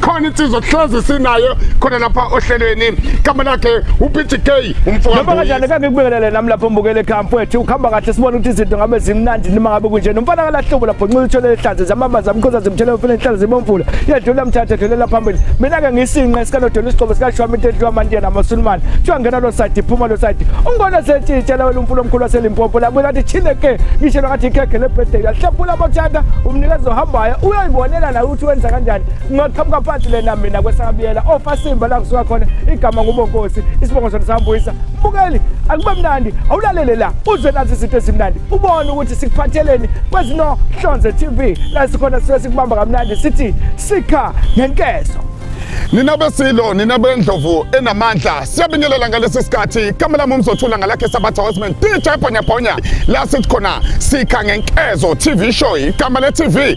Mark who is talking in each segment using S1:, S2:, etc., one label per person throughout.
S1: khona insizwa kuhlezi sinayo khona lapha ohlelweni igama lakhe uPTK umfowabo noma kanjani kake kubelele
S2: nami lapho mbukele ekhaya mfowethu ukhamba kahle sibona ukuthi izinto ngabe zimnandi noma ngabe kunje nomfana kalahlobo lapho nxulu uthole ehlaze zamama zamkhoza zimthele umfana ehlaze zibomfula yedlula mthathe dlulela phambili mina ke ngisinqa esikanodela isigqobo sikashwami into edliwa amantiyana amasulumane kuthiwa ngena lo side iphuma lo side ungona sentshitshela wena umfula omkhulu waselimpopo labuye lathi chine ke ngishelwa ngathi ikhekhe lebirthday yahlephula abathanda umnikezi ohambayo uyoyibonela naye wenza kanjani ngingaqhamuka phansi lena mina kwesakabiyela ofasimba oh, la kusuka khona igama ngubonkosi isibongo sona sambuyisa mbukeli akube mnandi awulalele la uze nazi izinto ezimnandi ubone ukuthi sikuphatheleni kwezinohlonze tv la sikhona sisuke sikubamba kamnandi sithi sikha ngenkezo
S1: nina besilo nina bendlovu enamandla siyabingelela ngalesi sikhathi kamela mumzothula ngalakhe sabatha wesman dj bhonyabhonya la sithi khona sikha ngenkezo tv show igama le-tv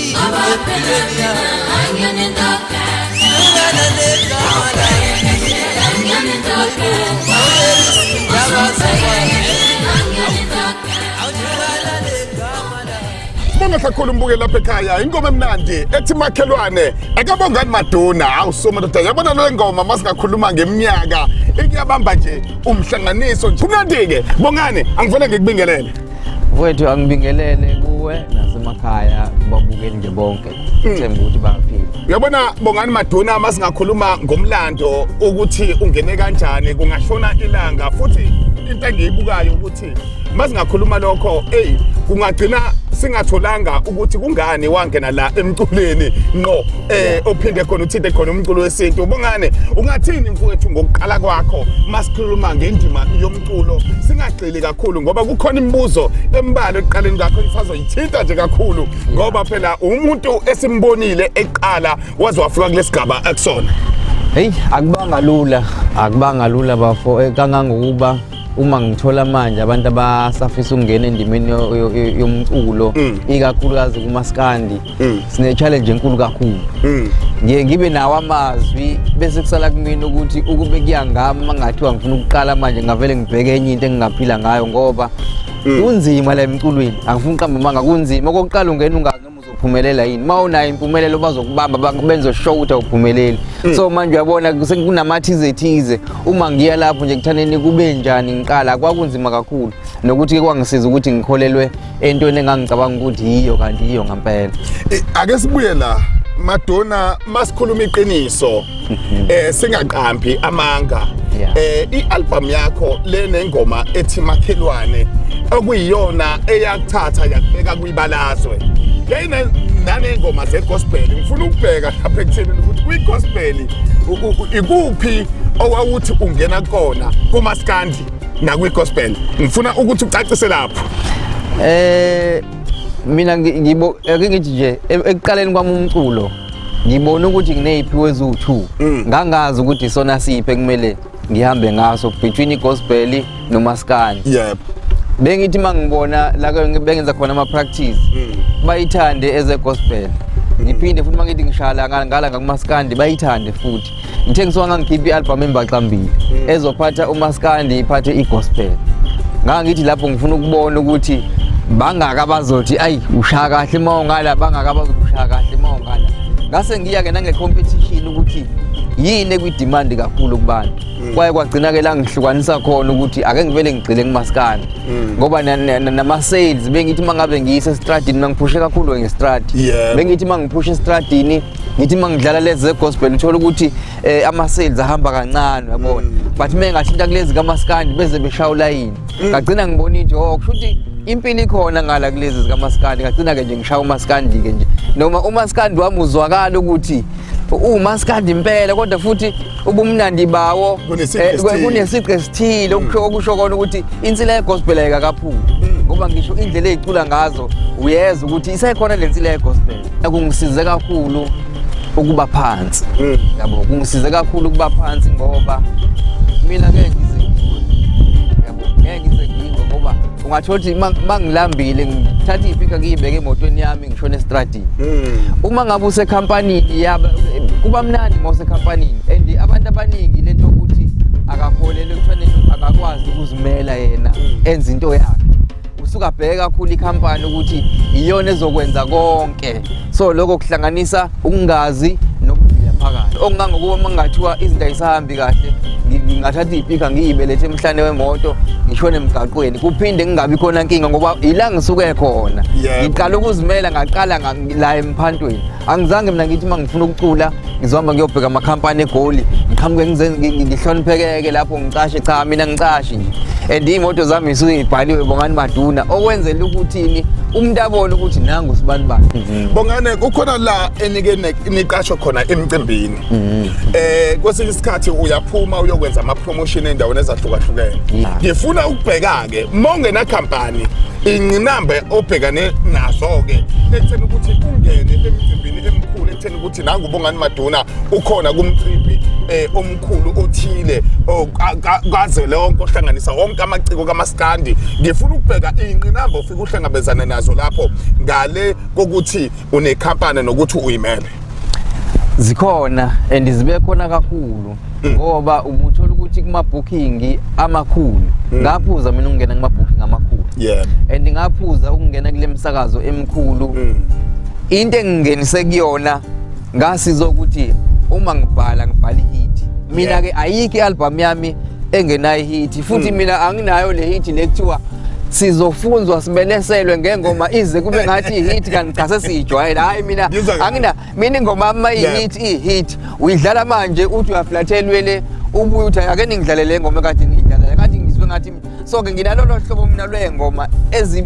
S1: Sibonga kakhulu mbuke lapha ekhaya ingoma emnandi ethi makhelwane akabongani maduna hawu so madoda yabona le ngoma masingakhuluma ngeminyaka ikuyabamba nje umhlanganiso nje kumnandi-ke bongani angifane ngikubingelele mfowethu
S3: angibingelele kuwe nasemakhaya kubabukeli nje bonke hmm. themba ukuthi baphile uyabona bongani
S1: maduna uma singakhuluma ngomlando ukuthi ungene kanjani kungashona ilanga futhi into engiyibukayo ukuthi uma singakhuluma lokho eyi kungagcina singatholanga ukuthi kungani wangena la emculweni ngqo eh ophinde khona uthinte khona umculo wesintu ubongane ungathini mfowethu ngokuqala kwakho masikhuluma ngendima yomculo singagcili kakhulu ngoba kukhona imibuzo embalwa ekuqaleni kakho isazoyithinta nje kakhulu ngoba phela umuntu esimbonile eqala waze wafika kulesigaba akusona hey
S3: akubanga lula akubanga lula bafo eh, kangangokuba uma ngithola manje abantu abasafisa ukungena endimeni yomculo mm. ikakhulukazi kumaskandi mm. sine-challenge enkulu kakhulu mm. ngiye ngibe nawo amazwi bese kusala kumina ukuthi ukube kuyangami uma ngathiwa ngifuna ukuqala manje ngavele ngibheke enye into engingaphila ngayo ngoba mm. kunzima la emculweni angifuni uqamba amanga kunzima okokuqala ungena ungazi noma uzophumelela yini uma unayo impumelelo bazokubamba benzosho ukuthi awuphumeleli mm. so manje uyabona kunama-thize thize uma ngiya lapho nje kuthaneni kube njani ngiqala kwakunzima kakhulu nokuthi-ke kwangisiza ukuthi ngikholelwe entweni engangicabanga ukuthi yiyo kanti yiyo ngampela Eh, ake sibuye
S1: la madonna masikhuluma iqiniso eh singaqambi amanga Yeah. eh ialbum yakho lenengoma ethi makhelwane okuyiyona eyakuthatha yakubeka kwibalazwe yayine nanengoma zegospel ngifuna ukubheka lapha ekutheni ukuthi kwigospel u- u- ikuphi owawuthi ungena kona kumaskandi nakwi gospel ngifuna ukuthi ucacise lapho eh
S3: mina ngibo ake ngithi nje e, ekuqaleni kwami umculo ngibona ukuthi ngineyiphi wezu-2 mm. ngangazi ukuthi sona siphi ekumele ngihambe ngaso between igospel nomaskani yep
S1: bengithi
S3: mangibona la bengenza khona ama practice mm. bayithande as a gospel ngiphinde futhi mangithi ngishala ngala ngakumaskandi bayithande futhi ngithe ngisuka ngangikhipha i-albhamu embaxambili mm. ezophatha umaskandi iphathe i-gospel ngangithi lapho ngifuna ukubona ukuthi bangaka abazothi ayi ushaya kahle uma ungala bangaka abazothi ushaya kahle uma ungala ngase ngiya-ke nange-competition ukuthi yini ekwidimandi kakhulu kubantu mm. kwaye kwagcina-ke la ngihlukanisa khona ukuthi ake ngivele ngigxile kumasikane mm. ngoba nama-sales bengithi uma ngabe ngiyise esitradini mangiphushe kakhulu ngestradi bengithi uma ngiphushe esitradini ngithi uma ngidlala lezi ze-gospel ngithola ukuthi um ama-sales ahamba kancane uyabona mm. but uma engathinta kulezi kamaskandi beze beshaya ulayini mm. ngagcina ngibona into oh kusho ukuthi impilo ikhona ngala kulezi zikamaskandi ngagcina-ke nje ngishaya umaskandi-ke nje noma umaskandi wami uzwakala ukuthi uwumaskandi impela kodwa futhi ubumnandi bawo kunesiqu eh, esithile mm. okusho kona ukuthi insila yegospel ayikakaphumi ngoba ngisho indlela eyicula ngazo uyeza ukuthi isekhona le nsila yegospel kungisize kakhulu ukuba phansi mm. yabo kungisize kakhulu ukuba phansi ngoba mina ke ungathola ukuthi uma ngilambile ngithatha iy'pika ngiyibeke emotweni yami ngishona esitradini hmm. uma ngabe usekhampanini yaba kuba mnandi uma usekhampanini and abantu abaningi le nto yokuthi akaholele ekuthiwaneni akakwazi ukuzimela yena hmm. enza into yakhe usuke abheke kakhulu ikhampani ukuthi iyona ezokwenza konke so lokho kuhlanganisa ukungazi nokuvila phakathi okungangokuba uma kungathiwa izinto ayisahambi kahle ngingathatha iy'pika ngiyibelethe emhlane wemoto ngishone emgaqweni kuphinde kungabi khona nkinga ngoba yila ngisuke khona ngiqala ukuzimela ngaqala la emphantweni angizange mina ngithi uma ngifuna ukucula ngizohamba ngiyobheka amakhampani egoli ngiqhamuke ngihloniphekeke lapho ngicashe cha mina ngicashi nje and iy'moto zami ngisuke ngibhaliwe bongani maduna okwenzela ukuthini umuntu abone ukuthi nangu sibani bani bongane kukhona
S1: la enike niqashwe khona emcimbini mm. eh kwesinye isikhathi uyaphuma uyokwenza ama promotion endaweni ezahlukahlukene mm. ngifuna ukubheka ke mongena company inqinambe obhekane nazo ke ekutheni ukuthi ungene emcimbini emkhulu ekutheni ukuthi nangu bongani maduna ukhona kumcimbi eh omkhulu othile kaze lonke ohlanganisa wonke amaciko kamaskandi ngifuna ukubheka inqinambe ofika uhlangabezana nazo lapho ngale kokuthi unekhampani nokuthi uyimele
S3: zikhona and zibe khona kakhulu mm. ngoba ubuthola ukuthi kuma-booking amakhulu mm. ngaphuza mina ukungena kuma-booking amakhulu yeah. and ngaphuza ukungena kule misakazo emikhulu mm. into engingenise kuyona ngasiza ukuthi uma ngibhala ngibhala ihithi mina-ke ayikho i-albhamu yami engenayo ihithi futhi hmm. mina anginayo le hit le kuthiwa sizofunzwa sibeleselwe ngengoma ize kube ngathi ihit kanti cha sesiyijwayele hayi mina angina mina ingoma ama ihit ihit uyidlala manje uthi uyaflathelwe le ubuye uthi ake ningidlalele ingoma kade ngiyidlala kade ngizwe ngathi so ke nginalolo hlobo mina lwengoma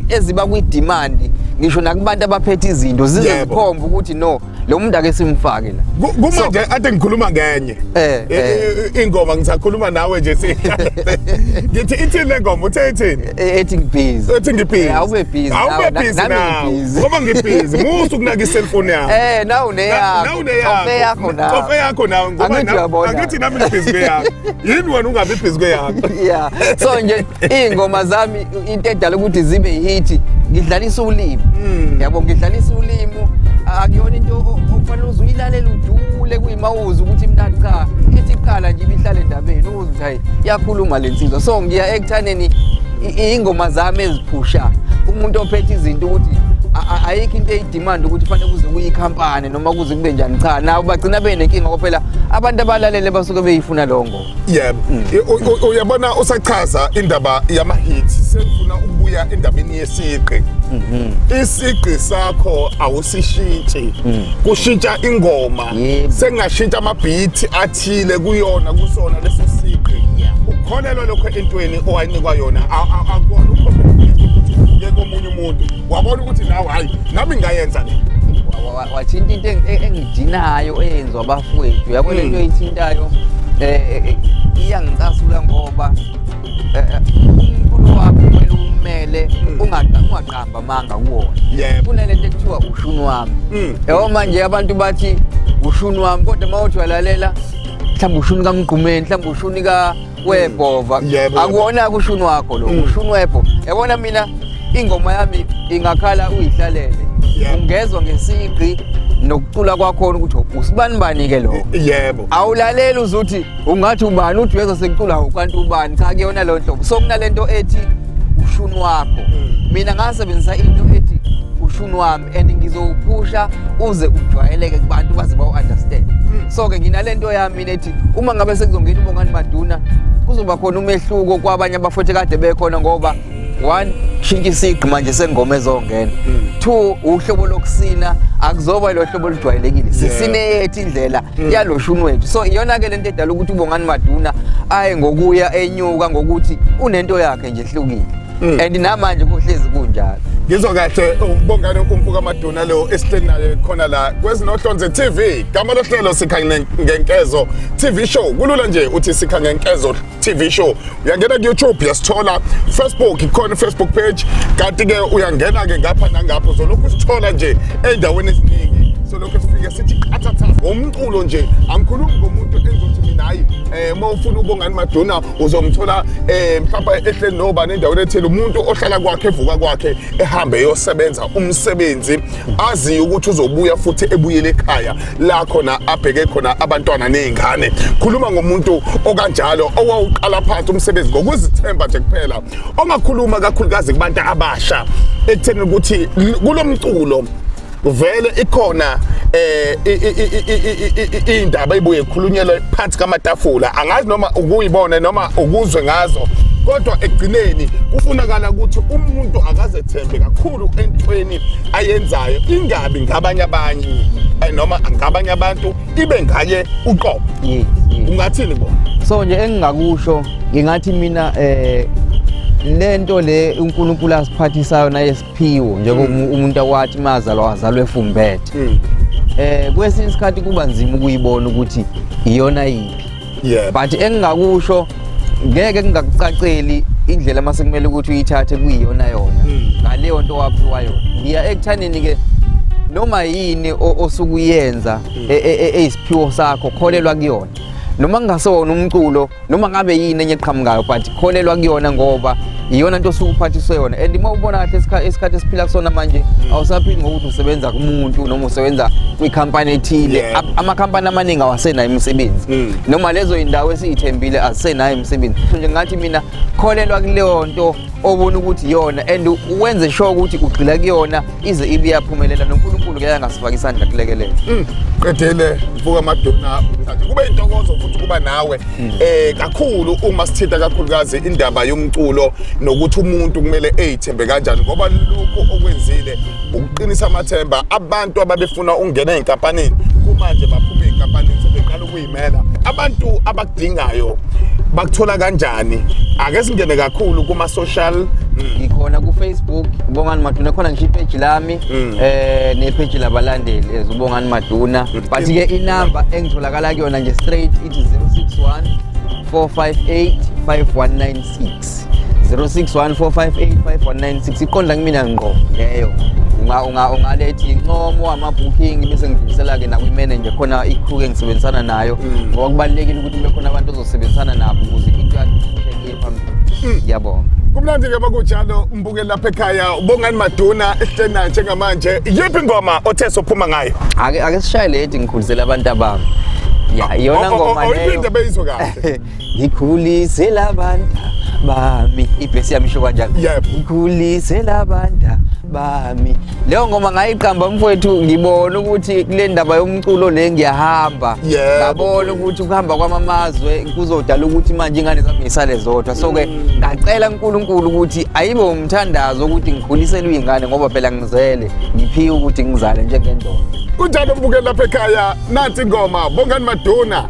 S3: eziba kwi demand ngisho nakubantu abaphethe izinto zizokhomba ukuthi no lo muntu ake simfake la Ku- kumanje ade ngikhuluma
S1: ngenye Eh, I- eh. i- ingoma ngisakhuluma nawe nje si ngithi ithini le ngoma uthe ithini E- ethi ngibhizi
S3: uthi ngibhizi Eh, awube busy nawe, awube na- busy nami nawe ngibhizi.
S1: ngoba ngibhizi musu kunaka iselfoni yakho eh nawu Na- nawe
S3: neyakho Ofe yakho uneyakho nawe ofe yakho
S1: nawe ngoba Angithi na- uyabona. angithi nami ngibhizi kweyakho yini wena ungabi bhizi kweyakho yeah so
S3: nje iy'ngoma zami into edala ukuthi zibe yihithi ngidlalisa ulimi hmm. yabo ngidlalisa ulimu akuyona into okufanele uze uyilalele ujule kuyimawuzi ukuthi mnandi cha ithi kuqala nje ibihlale endabeni uze ukuthi hayi iyakhuluma le nsizwa so ngiya ekuthaneni iy'ngoma zami eziphusha umuntu ophethe izinto ukuthi ayikho into eyidimanda ukuthi fanele kuze kuyikhampani noma kuze kube njani cha nawo bagcina benenkinga ngoba phela abantu abalalele basuke beyifuna longo yebo
S1: mm. uyabona usachaza indaba yamahit sengifuna ukubuya endabeni yesiqi mm-hmm. isiqi sakho awusishintshi mm. kushintsha ingoma sengashintsha amabhithi athile kuyona kusona leso siqi ukholelwa lokho entweni owayinikwa yona akubona ukhoke komunye umuntu wabona ukuthi nawe hayi nami ngayenza le wathinta
S3: into e-, engidinayo eyenziwa abafowethu uyabona into hmm. eyithintayo um eh, eh, iyangicasula ngoba umkhulu wakho kumele umele hmm. ungaqamba amanga kuwona kunale nto ekuthiwa ushuni wami hmm. yabo manje abantu bathi ushuni wami kodwa uma uthi walalela mhlawumbe ushuni kamgqumeni mhlawumbe ushuni ka webhova Yebo. akuwona kushuni wakho lo Mm. ushuni webho yabona mina ingoma yami ingakhala uyihlalele Yeah. ungezwa ngesigqi nokucula kwakhona ukuthi usibani bani ke lokho yebo awulaleli
S1: uzuthi
S3: ungathi ubani uthi uyezwa sekucula ukanti ubani cha kuyona leyo nhlobo so kunalento ethi ushuni wakho Mm. mina ngasebenzisa into ethi ushuni wami and ngizowuphusha uze ujwayeleke kubantu baze bawu-understand so-ke nginalento yami mina ethi uma ngabe sekuzongena uBongani Maduna kuzoba khona umehluko kwabanye abafowethu kade bekhona ngoba one shintsha isigqi manje sengoma ezongena mm. two uhlobo lokusina akuzoba lo hlobo olujwayelekile sisineyethu indlela mm. yaloshuni wethu so iyona-ke le nto edala ukuthi ubongani maduna aye ngokuya enyuka ngokuthi unento yakhe nje ehlukile mm. and namanje kuhlezi kunjalo ngizwa kahle
S1: ukubongana umfuka maduna lo esihleli naye khona la kwezinohlonze TV gama lohlelo sikhanye ngenkezo TV show kulula nje uthi sikhanye ngenkezo TV show uyangena ku YouTube yasithola Facebook ikhona Facebook page kanti ke uyangena ke ngapha nangapha uzolokhu usithola nje endaweni eziningi so lokho sifike sithi qathatha ngomculo nje angikhulumi ngomuntu enzothi mina hayi eh uma ufuna ubongani maduna uzomthola eh mhlawumbe ehleli nobani endaweni ethile umuntu ohlala kwakhe evuka kwakhe ehambe eyosebenza umsebenzi azi ukuthi uzobuya futhi ebuyele ekhaya la khona abheke khona abantwana nezingane khuluma ngomuntu okanjalo owawuqala phansi umsebenzi ngokuzithemba nje kuphela ongakhuluma kakhulukazi kubantu abasha ekutheni ukuthi kulomculo vele ikhona eh indaba ibuye ikhulunyelwe phansi kamatafula angazi noma ukuyibona noma ukuzwe ngazo kodwa ekugcineni kufunakala ukuthi umuntu akazethembe kakhulu entweni ayenzayo ingabi ngabanye abanye eh, noma ngabanye abantu ibe ngaye uqobo ungathini bona so nje engingakusho
S3: ngingathi mina eh lento le uNkulunkulu asiphathisayo naye Phiwo njengoba mm. umuntu akwathi mazalwa wazalwa efumbethe. Mm. Eh kwesinye isikhathi kuba nzima ukuyibona ukuthi iyona yiphi. Yeah. But engingakusho ngeke ngingakucaceli indlela mase kumele ukuthi uyithathe kuyiyona yona mm. ngaleyo nto waphiwa yona. Ngiya ekuthaneni ke noma yini osukuyenza e, e, e, eyisiphiwo sakho kholelwa kuyona. Noma kungasewona umculo noma ngabe yini enye eqhamukayo but kholelwa kuyona ngoba iyona nto osuke uphathiswe yona and uma ubona kahle isikhathi esiphila kusona manje mm. awusaphili ngokuthi usebenza kumuntu noma usebenza kwikhampani ethile amakhampani amaningi awasenayo imisebenzi mm. noma lezo yindawo esiyithembile azisenayo imisebenzi nje ngathi mina kholelwa kuleyo nto obona ukuthi yona and wenze sure ukuthi ugxila kuyona ize ibe yaphumelela noNkulunkulu ke yangasifaka isandla kulekelela mm. qedele
S1: mfuka amadona manje kube intokozo futhi kuba nawe mm. eh kakhulu uma sithinta kakhulukazi indaba yomculo nokuthi umuntu kumele ezithembe kanjani ngoba lokho okwenzile ukuqinisa amathemba abantu ababefuna ungena enkampanini kumanje baphuma enkampanini sebeqala Imela abantu abakudingayo bakuthola kanjani ake singene kakhulu kuma social mm. ngikhona ku
S3: Facebook Bongani Maduna khona ngisho ipage lami mm. eh ne page labalandeli ezubongani Maduna mm. but ke inamba engitholakala kuyona nje straight ithi 061 458 5196 0614585196 iqonda kumina ngqo leyo ungalethi incomo wamabooking bese ngidlulisela ke nakwi-manager khona i-crew engisebenzisana nayo mm. ngoba kubalulekile ukuthi kube khona abantu ozosebenzisana nabo ukuze into yakhe phambili mm. ngiyabonga kumnandi ke bakunjalo
S1: mbukeli lapha ekhaya ubongani maduna esihlena njengamanje yiphi ingoma othe sophuma ngayo ake ake sishaye leti
S3: ngikhulisela abantu abami ya iyona ngoma leyo oyiphinda beyizwe kahle
S1: ngikhulise
S3: labanta bami ibhesi yami isho kanjalo Yebo. ngikhulise labanta bami leyo ngoma ngayiqamba mfowethu ngibona ukuthi kule ndaba yomculo le ngiyahamba Yebo. ngabona ukuthi ukuhamba kwamamazwe kuzodala ukuthi manje ingane zami ngisale zodwa so-ke Mm. ngacela unkulunkulu ukuthi ayibe umthandazo ukuthi ngikhuliselwe iy'ngane ngoba phela ngizele ngiphiwe ukuthi ngizale njengendoda kunjalo mbukeli
S1: lapha ekhaya nansi ingoma bongani maduna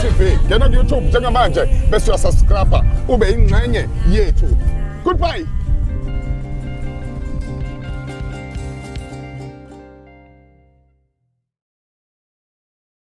S1: TV ngena kuYouTube njengamanje bese uyasubscribe ube ingxenye yethu goodbye